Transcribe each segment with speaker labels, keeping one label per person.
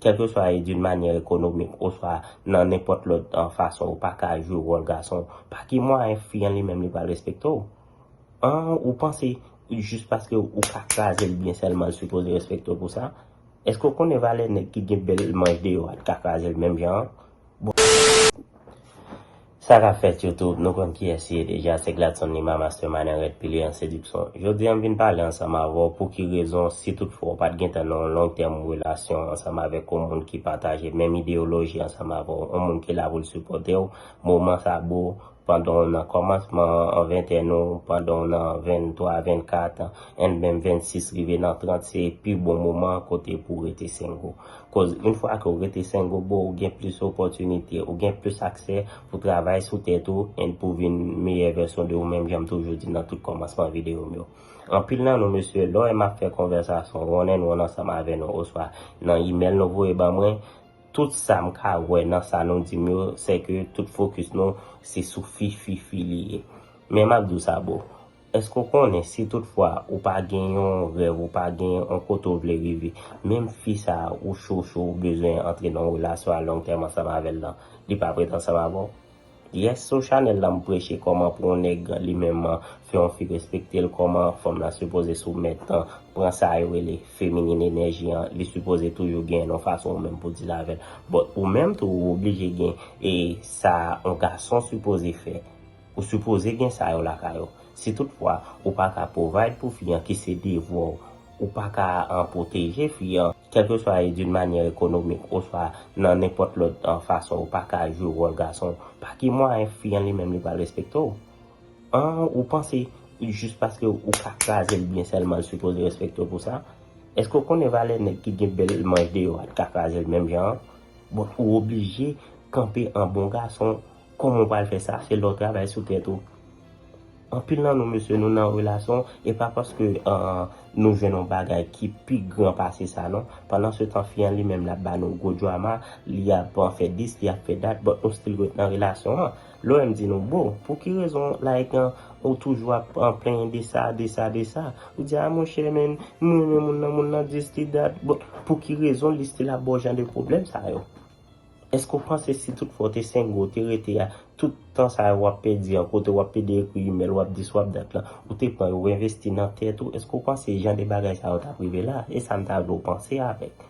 Speaker 1: Kèlkeswa e d'une manière économique oswa nan nenpòt lòt fason ou pa ka jwe wòl gason, pa ki mwayen fi an li menm li pral respekte w? An ou panse jis paske ou ka kraze l byen sèlman l sipoze respekte w pou sa? Èske w konnen valè nèg ki gen bèl manch deyò a li ka kraze l menm jan an? Bon. Sa kap fèt YouTube, nou konn kiyès li ye deja, se Gladson Lima Mastermind an rèd pile an sediksyon. Jodi a m vin pale ansanm avè w pou ki rezon si tout fwa w pat gentan nan yon long term relasyon ansanm avèk yon moun ki pataje menm ideyoloji ansanm avè w, yon moun ki la pou l sipòte w moman sa bro, pandan w nan kòmansman an ventèn ou, pandan w nan 23, 24 and menm 26 rive nan 30 se pi bon moman kote pou w rete single. Koz yn fwa ke w rete sengobo w gen plis opòtinite, w gen plis aksè pou travay sou tèt ou and pou vin meyè vèsyon de ou menm jan m toujou di nan tout kòmansman videyo m yo. Anpil nan nou mesye lè w wè m ap fè konvèsasyon one and one ansanm avè nou oswa nan imèl nou voye ban mwen, tout sa m ka wè nan sa nou di m yo sè ke tout fokis nou se sou fi fi fi li ye. Men m ap di w sa boo, Èske ou konnen si tout fwa ou pa gen yon rèv ou pa gen yon kote ou vle rive menm fi sa ou cho cho ou bezwen antre nan yon relasyon a long tèm ansanm avèl lan li pa prèt ansanm avèw? Yes sou chanèl lan m preche kòman pou yon nèg li menm fè yon fi respektel kòman fanm lan sipoze soumèt pran sa yo rele feminin enèji an li sipoze toujou gen yon fason ou menm pou deal avèl but ou menm tou ou oblije gen e sa yon gason sipoze fè Ou sipoze gen sa yo lakay ou. Si tout fwa ou pa ka provide pou fi an ki se devwa w, ou pa ka an pwoteje fi an, kèlkeswa e d'une manière économique oswa nan nenpòt lòt fason ou pa ka jwe wòl gason, pa ki mwayen fi an li menm li pral respekte w? An ou panse jis paske ou ka kraze l byen sèlman l sipoze respekte w pou sa? Èske ou konnen valè nèg ki gen bèl manch deyò a t ka kraze l menm jan an? Bon ou oblije kanpe an bon gason Koman ou pral fè sa se lè w travay sou tèt ou. Anpil nan nou mesye nou nan relasyon e pa paske nou jwenn yon bagay ki pi gran pase sa non. Pandan se tan fi an li menm l ap ba nou gwo drama, li ap fè dis, li ap fè dat but nou still ret nan relasyon an. Lè w wè m di nou boo, pou ki rezon like ou toujou ap plenyen de sa, de sa, de sa. Ou di a monchè men m renmen moun nan, moun nan dis, li dat but pou ki rezon li still ap ba w jan de pwoblèm sa yo. Eske w panse si tout fwa w te sengo, w te rete a, tout tan sa yo w ap pèdi an, kote w ap pede ekri imèl, w ap di swap dat lan, ou te pran yo envesti nan tèt ou, eske w panse jan de bagay sa yo t ap rive la? E sa m ta vle w panse avèk.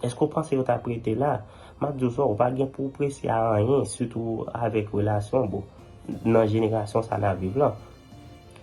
Speaker 1: Eske w panse yo t ap rete la? M ap di w sa, w pa gen pou w prese a anyen, sitou avèk relasyon, bon, nan jenerasyon sa n ap viv lan.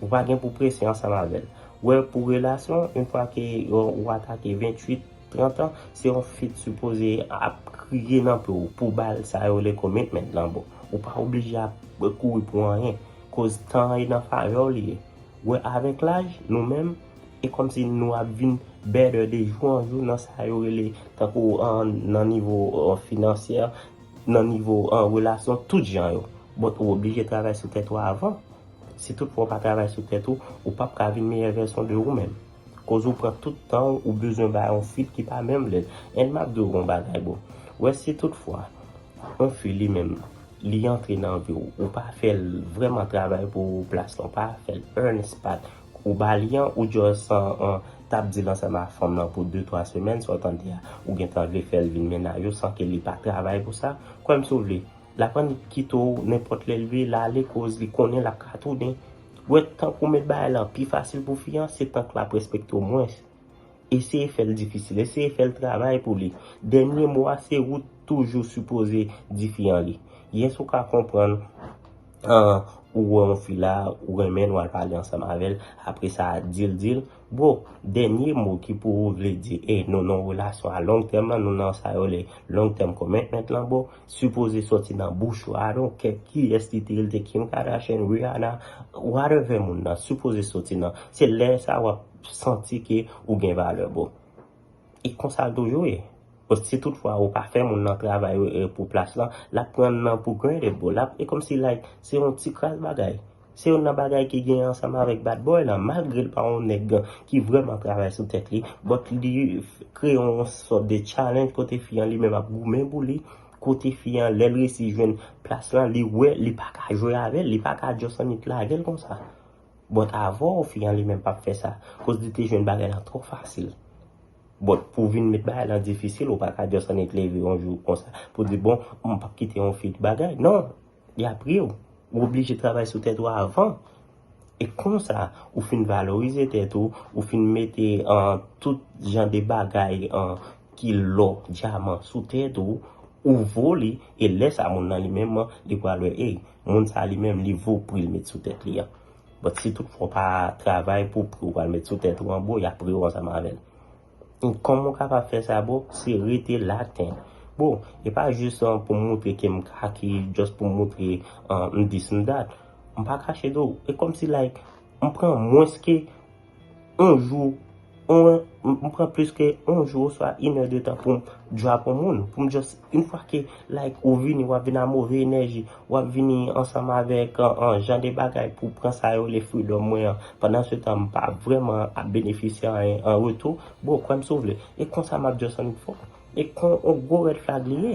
Speaker 1: Ou pa gen pou w prese ansanm avè l. Wè pou relasyon, yon fwa ke ou atake 28. 30 ans se yon fi t sipoze ap kriye nan pew pou bal sa yo le commitment lan bon ou pa oblije ap kouri pou anyen koz tan an e nan favèw li ye wè avèk laj nou menm e kòmsi nou ap vin better de jou an jou nan sa yo rele tankou nan nivo finansyè nan nivo relasyon tout jan yo but ou oblije travay sou tèt ou avan si tout fwa ou pa travay sou tèt ou ou pap ka vin meyè vèsyon de ou menm. Koz ou pran tout tanw ou bezwen bay yon feat ki pa menm lèt and map diw yon bagay boo wè si tout fwa yon fi li menm li antre nan viw ou pa fèl vrèman travay pou plas lan pa fèl earns pat ou bali an ou just tap dil ansanm ak fanm lan pou 2 3 semèn sa w tande a ou gentan vle fèl vin mennaj ou san ke li pa travay pou sa kwèm si w vle lap annik kite w nenpòt lèl vle lale koz li konnen lap ka tounen. Wè tank ou met bagay lan pi fasil pou fi an, se tank lap respekte w mwens. Eseye fè l difisil, eseye fè l travay pou li. Dènye mo a se ou toujou sipoze di fi an li. Yes ou ka konprann ou wè yon fi la, ou renmen l, wal pale ansanm avè l, apresa dil, dil, Bro, dènye mo ki pou ou vle di e nou nan relasyon a long tèm lan, nou nan sa yo rele long term commitment lan bro, sipoze sòti nan bouch ou, I don't care kiyès li te ye, li te Kim Kardashian, Rihanna, whatever moun nan sipoze soti nan, se lè sa wap santi ke ou gen valè bro. E konsa l toujou ye. Bon, si tout fwa ou pa fè moun nan travay pou plas lan, l ap pran nan pou granted bro. L ap, e kòm si like, se yon ti kras bagay. Se youn nan bagay ki gen ansanm avèk bad boy lan. Malgre l pa yon nèg ki vrèman travay sou tèt li, but li kreye yon sòt de challenge kote fi an li menm ap goumen pou li, kote fi an lè l resi jwenn plas lan, li wè li pa ka jwe avè l, li pa ka just annik lage l konsa. But avèw fi an li menm pap fè sa koz li te jwenn bagay lan twò fasil. But pou vin met bagay lan difisil ou paka just annik leve yon jou konsa pou di bon m pap kite yon fi bagay non yap riw ou oblije travay sou tèt ou avan e konsa ou fin valorize tèt ou ou fin mete an tout jan de bagay an ki lò dyaman sou tèt ou ou vo li e lè sa moun lan li menm li pral wè ey Moun sa li menm li vo pril met sou tèt li an. But si tout fwa w pa travay pou pri w pral met sou tèt ou an bro yap pre w ansanm avèl. And kòman w kapab fè sa bro se rete laten. Bro e pa jis pou m moutre ke m kaki just pou m moutre m dis m dat. M pa kache de w e kòmsi like m pran mwens ke On jou, on, m pran plis ke on jou oswa in è de tan pou m drop on moun, pou m just, in fwa ke like ou vini, w ap vini a move enèji, w ap vini ansanm avèk an jan de bagay pou pran sa yo rele freedom mwen an, pandan se tan m pa vrèman ap benefisye anyen an retou, bro, kwè m si w vle. E konsa m ap just annik fò. E kon on gwo red flag li ye.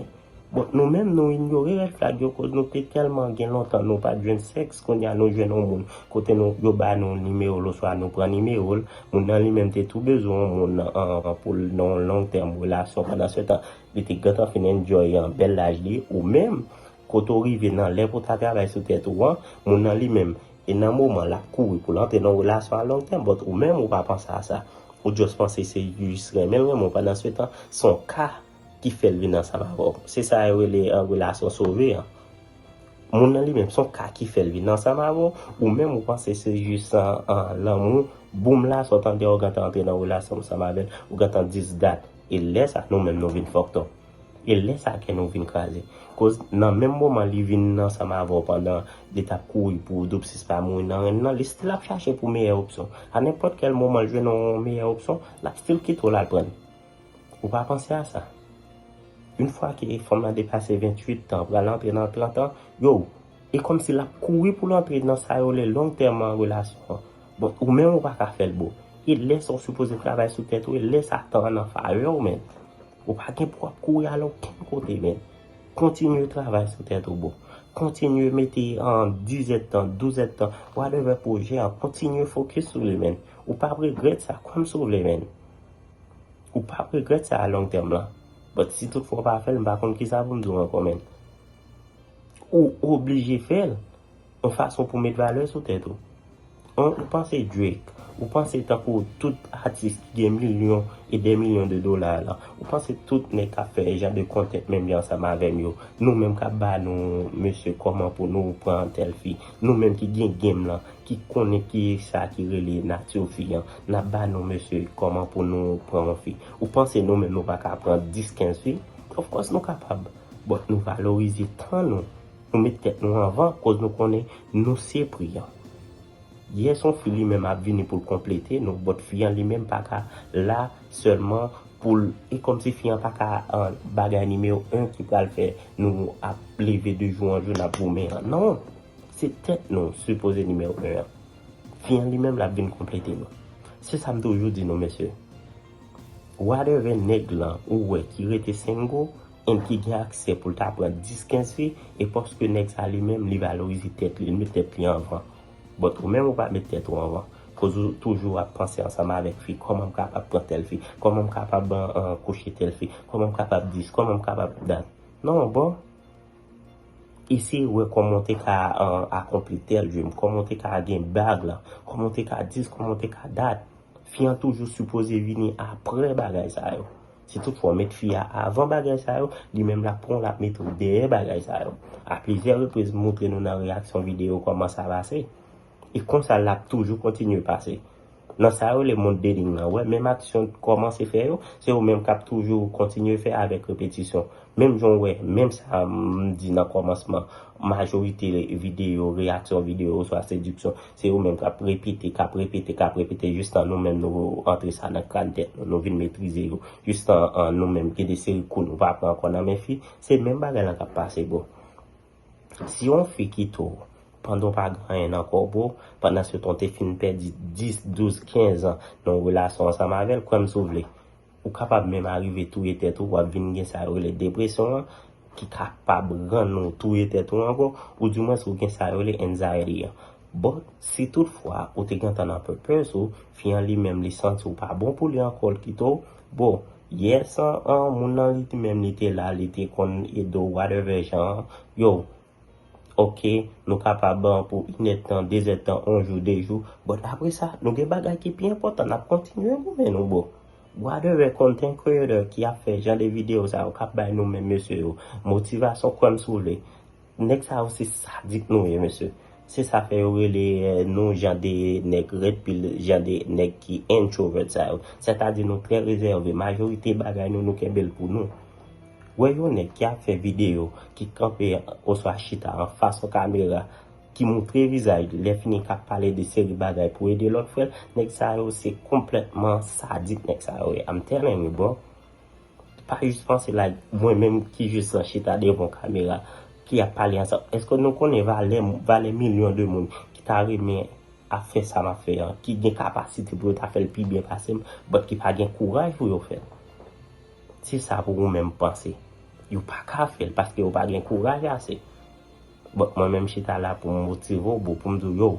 Speaker 1: Bon nou menm nou inyore red flag yo koz nou te telman gen lontan nou pat jwenn sex kounye a nou jwenn on moun kote nou yo ba nou nimewo l oswa nou pran nimewo l moun nan li menm te tou bezwen on moun an pou l nan on long term relasyon pandan se tan li te gentan fin enjoy an bèl laj li ou menm Kote w rive nan lè pou w ta travay sou tèt ou an, moun nan li menm, e nan moman l ap kouri pou l antre nan yon relasyon a long tèm, but ou menm ou pa panse a sa. Ou just panse se u jis renmen l renmen w pandan se tan se yon ka ki fè l vin ansanm avè w. Se sa yo rele relasyon sove an. Moun nan li menm, se yon ka ki fè l vin ansanm avè w, ou menm ou panse se jis lanmou boom la sa w tande a ou gentan antre nan relasyon ansanm avè l, ou gentan jis dat. E lè sa nou menm nou vin fucked up. E lè sa kè nou vin kraze. Koz nan menm moman li vin ansanm avè w pandan li t ap kouri pou Doopsys pa mouri nan ren nan, li stil ap chache pou meyè opsyon. A nenpòt kèl moman l jwenn yon meyè opsyon, l ap stil kite w l al pran li. Ou pa panse a sa? Yn fwa ke fanm lan depase 28 tan, pral antre nan 30 tan, yow! E kòm si l ap kouri pou l antre nan sa yo rele long tèm an relasyon an. Bon, ou menm ou pa ka fè l boo. E lè sa w sipoze travay sou tèt ou, e lè sa tan an nan favè w menn. Ou pa gen pou wap kouri al okenn kote men. Kontinye travay sou tèt ou boo. Kontinye mete an dizèt tan, douzèt tan, whatever pwojè a, kontinye fokis sou li men. Ou pap regrèt sa kòm si w vle men. Ou pap regrèt sa a long tèm lan. But si tout fwa w pa fè l m pa konn kisa pou m di w ankò men. Ou oblije fè l. Yon fason pou met valè sou tèt ou. An ou panse Drake, ou panse tankou tout atis ki gen milyon e dè milyon de dola la, ou panse tout nèg kap fè jan de content menm jan ansanm avèm yo, nou menm kap ba nou mesye kòman pou nou pran tèl fi, nou menm ki gen game lan, ki konnen kisa ki rele nature fi an, nap ba nou mesye kòman pou nou pran yon fi. Ou panse nou menm nou paka pran 10, 15 fi? Of course nou kapab, but nou valorize tan nou Nou met tèt nou anvan koz nou konnen nou se pri an. Yè son fi li menm ap vini poul konplete nou but fi an li menm paka la sèlman poul e kòmsi fi an paka bagay nimewo 1 ki pral fè nou ap leve de jou an jou nap goumen an non se tèt nou sipoze nimewo 1 an fi an li menm lap vin konplete nou se sam toujou di nou mesye whatever nèg lan ou wè ki rete single Moun ki gen aksè pou l ta pran 10, 15 fi, e paske nèg sa li menm li valorize tèt li, li met tèt li anvan. But ou menm ou pa met tèt ou anvan. Koz ou toujou ap panse ansanm avèk fi, kòman m kapab pran tèl fi, kòman m kapab kouche tèl fi, kòman m kapab dis, kòman m kapab dat. Non broh. Eseye wè kòman w te ka akonpli tèl dream, kòman w te ka gen bag lan, kòman w te ka dis, kòman w te ka dat. Fi an toujou sipoze vini aprè bagay sa yo. Si tout fwa w met fi a avan bagay sa yo, li menm lap pran w lap mete w dèyè bagay sa yo. A plizyè repriz m moutre nou nan reyaksyon videyo kòman sa pase. E konsa lap toujou kontinye pase. Nan sa yo rele mond dating lan, wè menm aksyon t kòmanse fè yo, se yo menm kap toujou kontinye fè avèk repetisyon. Menm jan w wè, menm sa m di nan kòmansman, majorite videyo, reyaksyon videyo oswa sediksyon, Se yo menm k ap repete, k ap repete, k ap repete jistan nou menm nou antre sa nan kran tèt nou, nou vin metrize yo. Jistan nou menm gen de seri kou nou pa pran ankò nan men fi. Se menm bagay lan k ap pase bro. Si yon fi kite w pandan w pa gen anyen nan kò w bro, pandansetan w te fin pèdi 10, 12, 15 an nan yon relasyon ansanm avè l, kwè m si w vle. Ou kapab menm arive touye tèt ou, wap vin gen sa yo rele depresyon an, ki kapab rann ou touye tèt ou ankò, ou di mwens ou gen sa yo rele anxiety an. Bon, si tout fwa ou te gentan nan purpose ou, fi an li menm li santi ou pa bon pou li ankò l kite w, bon, yes an, moun nan li menm li te la, li te konn ede w whatever jan an, yow, Ok nou ka pa ban pou inèd tan dezèd tan on jou de jou but apre sa nou gen bagay ki pi enpòtan nap kontinye goumen nou boo brother rare content creator ki ap fè jan de video sa yo kap bay nou menm mesye yo motivasyon kwèm si w vle nèg sa yo se sadik nou ye mesye se sa fè yo rele nou jan de nèg red pil jan de nèg ki introvert sa yo sètadi nou trè rezève majorite bagay nou nou kenbe l pou nou. Wè yon nèg ki ap fè videyo, ki kanpe oswa chita anfas yon kamera, ki moutre vizaj li, lè fini k ap pale de seri bagay pou ede lòt frè l, nèg sa yo se konplètman sadik nèg sa yo ye I'm telling you bro. Pa jis panse like mwen menm ki jis lan chita devan yon kamera, ki ap pale ansanm, èske nou konnen valè valè milyon de moun ki ta renmen ap fè sa m ap fè an, ki gen kapasite pou yo ta fè l pi byen pase m, but ki pa gen kouraj pou yo fè l? Se sa pou ou menm panse. Yo pa ka fè l paske yo pa gen kouraj ase. Bon, mwen menm chita la pou m motive w bro, pou m di w yo,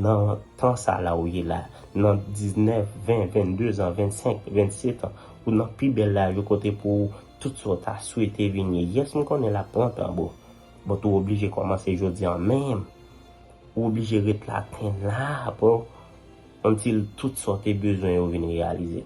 Speaker 1: nan tan sa la ou ye la, nan 19, 20, 22 zan, 25, 27 an, ou nan pi bèl laj ou kote pou ou tout sa w ta swete vin ye. Yes m konnen l ap pran tan bro, but ou oblije kòmanse jodi an menm. Ou oblije ret la, ten la bro, until tout sa w te bezwen yo vin reyalize.